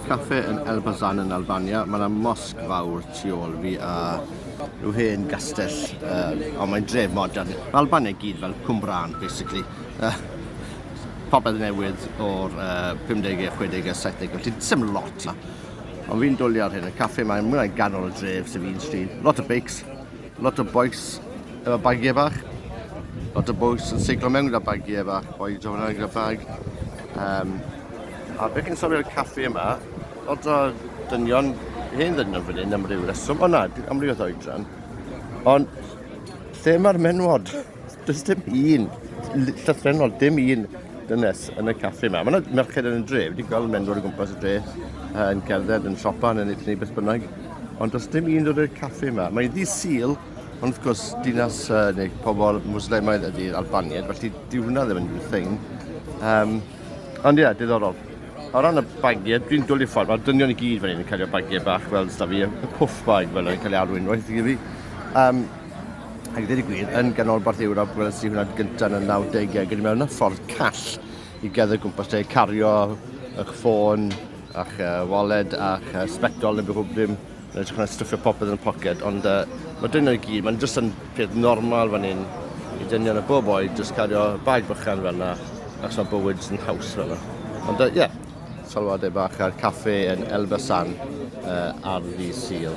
Cafe yn Elbasan yn Albania. Mae yna mosg fawr tu ôl fi a rhyw hen gastell, uh, ond mae'n dref modern. Mae Albania i gyd fel Cwmbrân, basically. Uh, popeth newydd o'r uh, 50au, 60au, 70au, ti'n syml lot na. Ond fi'n dwlu ar hyn, y caffe mae mwy o'i ganol y dref sy'n fi'n stryd. Lot o beics, lot o boes efo bagiau bach, lot o boes yn seiglo mewn gyda bagiau bach, boi drofyn gyda bag. Um, A beth chi'n sylwi'r caffi yma? Lot o dynion, hen ddynion fan hyn am ryw reswm. O na, am ryw o oedran. Ond lle mae'r menwod? Does dim un, llythrenol, dim un dynes yn y caffi yma. Mae yna merched yn y dre, wedi gweld menwod o gwmpas y dre yn cerdded, yn siopa, yn ennill neu beth bynnag. Ond does dim un dod i'r caffi yma. Mae'n ddi syl, ond wrth gwrs dinas uh, neu pobl Muslimaidd ydy'r Albaniad, felly dyw hwnna ddim yn thing. Um, Ond ie, diddorol. O ran y bagiau, dwi'n dwlu ffordd, mae'r dynion i gyd fan hyn yn cario bagiau bach fel da fi, y puff bag fel yn cael ei alwyn roedd i fi. Um, ac ddim i gwir, yn ganolbarth Ewrop, gweld sy'n hwnna'n gyntaf yn y 90au, gyda mewn y ffordd call i gael y gwmpas lle, cario eich ffôn, a'ch uh, wallet, a'ch uh, sbectol neu beth ddim. Mae'n edrych fel stwffio popeth yn y poced, ond uh, mae dyn nhw'n gyd, mae'n jyst yn peth normal fan hyn i dynion y bob oed, jyst cario bag bychan fel yna, ac mae bywyd yn haws fel yna. Ond ie, uh, yeah, salwadau bach a'r caffe yn Elbasan uh, ar ddi Sil.